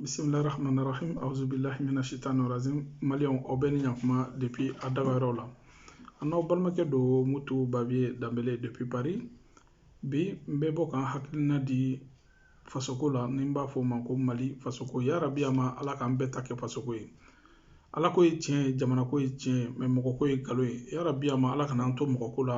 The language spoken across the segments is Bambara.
bisimilahi rahmani rahim awuzu bilahi mina shitani razim maliyɛnw aw bɛɛ ni ɲakuma depuis aw dagayɔrɔw la an n'aw balimakɛ don mutu babiye danbele depuis paris bi n bɛ bɔ ka n hakilina di fasoko la ni n b'a fɔ o ma ko mali fasoko yarabi a ma ala k'an bɛɛ ta kɛ fasoko ye ala ko ye tiɲɛ ye jamana ko ye tiɲɛ ye mɛ mɔgɔ ko ye nkalon ye yarabi a ma ala kana an to mɔgɔ ko la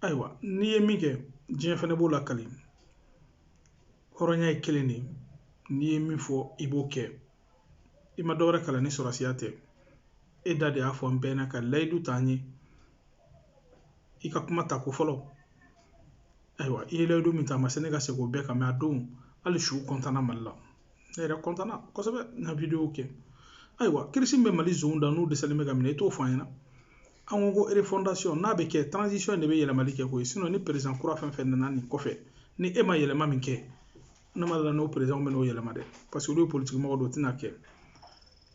ayiwa n'i ye min kɛ diɲɛ fana b'o lakali hɔrɔnya ye kelen de ye n'i ye min fɔ i b'o kɛ i ma dɔwɛrɛ kalan ni sɔrɔsiya tɛ e da de y'a fɔ an bɛɛ ɲɛna ka layidu ta an ye i ka kuma ta ko fɔlɔ ayiwa i ye layidu min ta a ma se ne ka se k'o bɛɛ kan mɛ a don hali su kɔntana mali la ne yɛrɛ kɔntana kosɛbɛ n ka wideyo kɛ ayiwa kirisi min bɛ mali zonw da n'u dɛsɛlen bɛ ka minɛ i t'o fɔ an ɲɛna an ko ko refondation n'a bɛ kɛ transition de bɛ yɛlɛmali kɛ koyi sinɔn ni perezan kura fɛn fɛn nana nin kɔfɛ ni e ma yɛlɛma min kɛ ne ma da a la n'o perezanw bɛn'o yɛlɛma dɛ parce que olu ye politiki mɔgɔ dɔ tɛna kɛ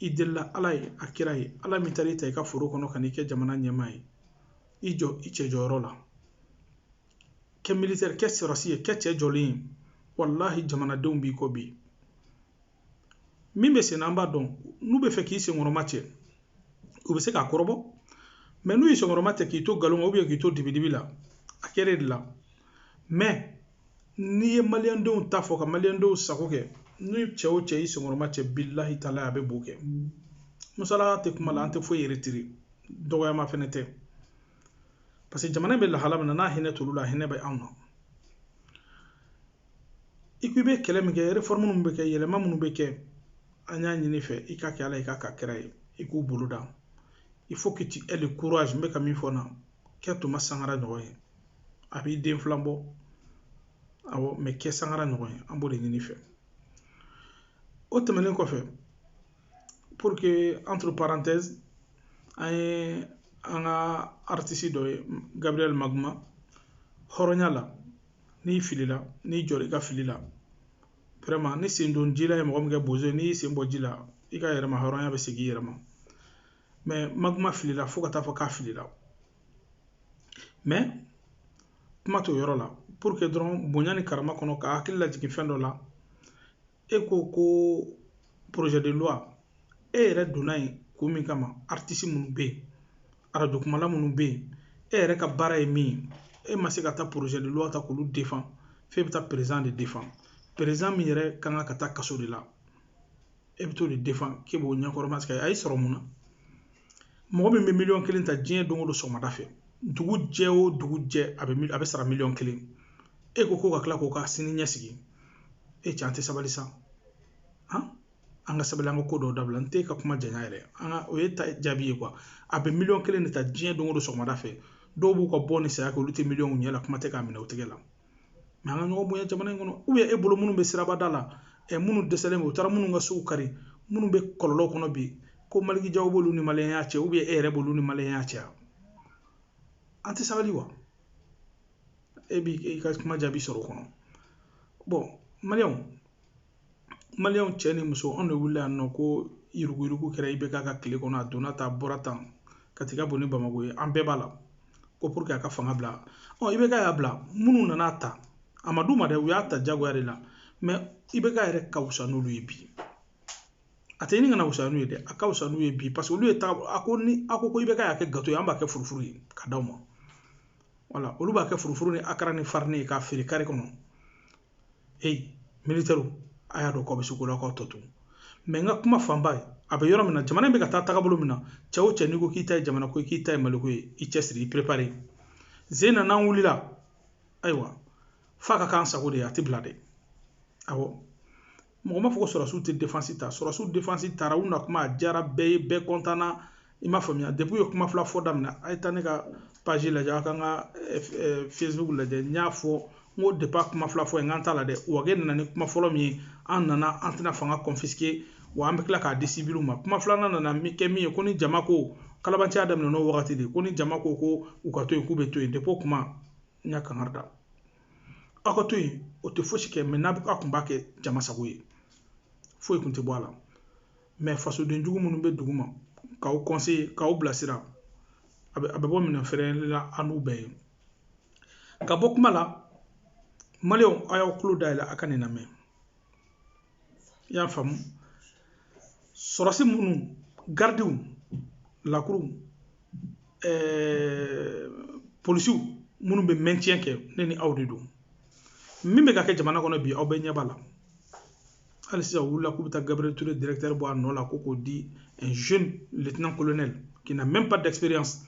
i delila ala ye a kira ye ala min taara i ta i ka foro kɔnɔ ka n'i kɛ jamana ɲɛmaa ye i jɔ i cɛ jɔyɔrɔ la kɛ militɛri kɛ sɔrɔsi ye kɛ cɛ jɔlen ye walahi jamanadenw b'i kɔ bi min bɛ sen na an b'a dɔn n'u bɛ fɛ k'i senkɔrɔma cɛ u bɛ se k'a kɔrɔbɔ mɛ n'u y'i senkɔrɔma cɛ k'i to nkalon kan ubiyɛn k'i to dibidibi la a kɛra e de la mɛ n'i ye maliyɛndenw ta fɔ ka maliyɛndenw sago kɛ ni cɛ o cɛ y'i senkɔrɔma cɛ bilahi taala a bɛ bo kɛ musalaka tɛ kuma la an tɛ foyi yɛrɛ tiri dɔgɔyama fɛnɛ tɛ parce que jamana bɛ lahala min na n'a hinɛ t'olu la a hinɛ bɛ anw na i ko i bɛ kɛlɛ min kɛ réforme minnu bɛ kɛ yɛlɛma minnu bɛ kɛ an y'a ɲini i fɛ i k'a kɛ ala ye k'a kɛ kira ye i k'u bolo da i fo k'i ti ɛli kura n bɛ ka min fɔ na kɛ thomas sankara ɲɔgɔn ye a b'i den filan bɔ awɔ mɛ kɛ sankara ɲɔgɔn ye an b'o de ɲini i fɛ o tɛmɛnen kɔfɛ pour que entre parenthèse an ye an ka aritisi dɔ ye gabriel magma hɔrɔnya la n'i filila n'i jɔra i ka fili la vraiment ni sen don ji la ye mɔgɔ min kɛ bozo ye n'i y'i sen bɔ ji la i ka yɛrɛma hɔrɔnya bɛ segin i yɛrɛ ma mɛ magma filila fo ka taa fɔ k'a filila mɛ kuma t'o yɔrɔ la pour que dɔrɔn bonya ni karama kɔnɔ k'a hakili lajigin fɛn dɔ la e ko ko projet de loi e yɛrɛ donna yen ko min kama artiste minnu bɛ yen arajo kumala minnu bɛ yen e yɛrɛ ka baara ye min ye e ma se ka taa projet de loi ta k'olu defan f'e bɛ taa président de defan président min yɛrɛ kan ka taa kaso de la e bɛ t'o de defan k'e b'o ɲɛkɔrɔma sigi a y'i sɔrɔ mun na mɔgɔ min bɛ miliyɔn kelen ta diɲɛ don o don sɔgɔmada fɛ dugu jɛ o dugu jɛ a bɛ a bɛ sara miliyɔn kelen e ko ko k'a tila k'u ka sini ɲɛsigi e cɛ an tɛ sabali sa an ka sabali an ka ko dɔw dabila n tɛ ka kuma janya yɛrɛ nka o y'e ta jaabi ye a bɛ miliyɔn kelen de ta diɲɛ don o don sɔgɔmada fɛ dɔw b'u ka bɔ ni saya kɛ olu tɛ miliyɔn ɲɛ la kuma tɛ k'a minɛ u tɛgɛ la mɛ an ka ɲɔgɔn bonya jamana in kɔnɔ e bolo minnu bɛ sirabada la ɛ minnu dɛsɛlen u taara minnu ka sow kari minnu bɛ kɔlɔlɔ kɔnɔ bi ko maliki jaw b'olu ni maliyɛnya cɛ e yɛrɛ b'olu ni maliyɛnya cɛ an tɛ sabali wa e b'i ka kuma jaabi sɔrɔ o kɔnɔ bɔn maliyɛnw maliyɛnw cɛ ni muso anw de wulila yan nɔ ko yuruguyurugu kɛra ibeka ka tile kɔnɔ a donna tan bɔra tan ka taga bɔ ni bamakɔ ye an bɛɛ b'a la ko pour que a ka fanga bila ɔ ibeka y'a bila minnu nan'a ta a ma d'u ma dɛ u y'a ta jagoya de la mɛ ibeka yɛrɛ ka wusa n'olu ye bi a tɛ ɲini ka na wusa n'u ye dɛ a ka wusa n'u ye bi paseke olu y'a ta a ko ni a ko ko ibeka y'a kɛ gato ye an b'a kɛ furufuru ye k'a d'aw ma wala olu b'a kɛ furufuru ni akara ni farini ye k'a feere kare kɔnɔ e militɛriw a y'a dɔn k'aw bɛ se ko la k'o tɔ to mɛ n ka kuma fanba ye a bɛ yɔrɔ min na jamana in bɛ ka taa taabolo min na cɛ o cɛ n'i ko k'i ta ye jamana ko ye k'i ta ye maliko ye i cɛsiri i perepare zen na n'an wulila ayiwa f'a ka k'an sago de ye a tɛ bila dɛ awɔ mɔgɔ m'a fɔ ko sɔrɔsiw tɛ defansi ta sɔrɔsiw defansi taara u na kuma a diyara bɛɛ ye bɛɛ kɔntanna i m'a faamuya depi u ye kuma fila fɔ daminɛ a ye taa ne ka paji lajɛ aw ka n ka eh, eh, facebook lajɛ n y'a fɔ n ko depi a kuma fila fɔ ye n k'an t'a la dɛ wage nana ni kuma fɔlɔ min ye an nana an tɛna fanga kɔnfiske wa an bɛ tila k'a di sibiliw ma kuma filanan nana min kɛ min ye ko ni jama ko kalabanciya daminɛna o wagati de ko ni jama ko ko u ka to yen k'u bɛ to yen depi o kuma n y'a kankari da aw ka to yen o tɛ fosi kɛ mɛ n'a bɛ a kun b'a kɛ jama sago ye foyi kun tɛ bɔ a la mɛ fasoden jugu minnu bɛ dugu ma k'aw kɔnseye k'aw bilasira a bɛ a bɛ bɔ minɛn fɛrɛlen la an n'u bɛɛ ye ka bɔ kuma la maliyɛnw aw y'aw tulo dayɛlɛ a ka nin lamɛn i y'a faamu sɔrɔsi minnu garidiw lakuruw ɛɛ eh, polisiw minnu bɛ maintien kɛ ne ni aw de don min bɛ ka kɛ jamana kɔnɔ bi aw bɛɛ ɲɛ b'a la hali sisan u wulila k'u bɛ taa gabriel toure directeur bɔ a nɔ la ko k'o di un jeune lieutenant colonel qui n'a même pas d'expérience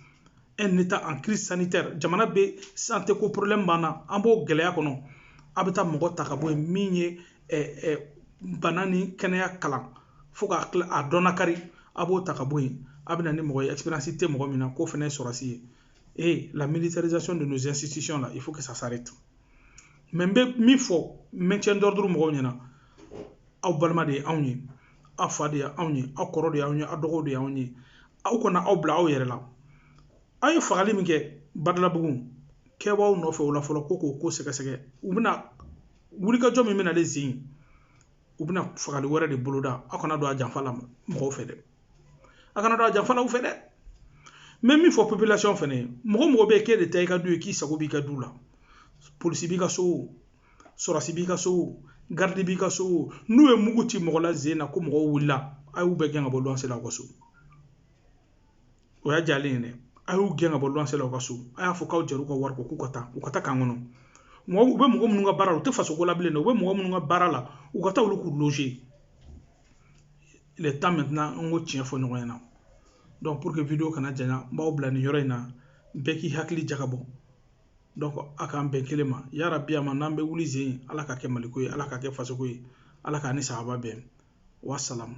un état en crise sanitaire jamana bɛ santé ko problème b'an na an b'o gɛlɛya kɔnɔ a bɛ taa mɔgɔ ta ka bɔ yen min ye bana ni kɛnɛya kalan fo ka kila a dɔn nakari a b'o ta ka bɔ yen a bɛ na ni mɔgɔ ye ɛsiperansi tɛ mɔgɔ min na k'o fana ye sɔrɔdasi ye ee la militarisation de nos institutions la il faut que ça s'arrête mais n bɛ min fɔ maintien d'ordre mɔgɔw ɲɛna aw balima de ye anw ye aw fa de ye anw ye aw kɔrɔ de y'anw ye aw dɔgɔw de y'anw ye aw kana aw bila aw yɛrɛ la aw ye fagali min kɛ badalabugu kɛbaaw nɔfɛ o la fɔlɔ ko k'o ko sɛgɛsɛgɛ u bɛna wulikajɔ min bɛna nin sen u bɛna fagali wɛrɛ de boloda aw kana don a janfa la mɔgɔw fɛ dɛ a kana don a janfa la u fɛ dɛ n bɛ min fɔ population fɛnɛ ye mɔgɔ mɔgɔ bɛ k'e de ta i ka du ye k'i sago b'i ka du la polisi b'i ka so o sɔrɔdasi b'i ka so o garidi b'i ka so o n'u ye mugu ci mɔgɔ la zen na ko mɔgɔw wulila a y'u bɛɛ gɛn ka bɔ luwanse la aw ka so o y'a jalen ye dɛ a y'u gɛn ka bɔ luwanse la aw ka so a y'a fɔ k'aw jɛr'u ka wari kɔ k'u ka taa u ka taa kan kɔnɔ mɔgɔ u bɛ mɔgɔ minnu ka baara la u tɛ faso ko la bilen dɛ u bɛ mɔgɔ minnu ka baara la u ka taa olu k'u loze le temps maintenant an k'o tiɲɛ fɔ ɲɔgɔn ɲɛna donc pour que video kana janya n b'aw bila nin yɔrɔ in na bɛɛ k'i hakili jagabɔ donc a k'an bɛn kelen ma yarabi a ma n'an bɛ wuli zen ala k'a kɛ maliko ye ala k'a kɛ fasoko ye ala k'an ni sahaba bɛn wasalamu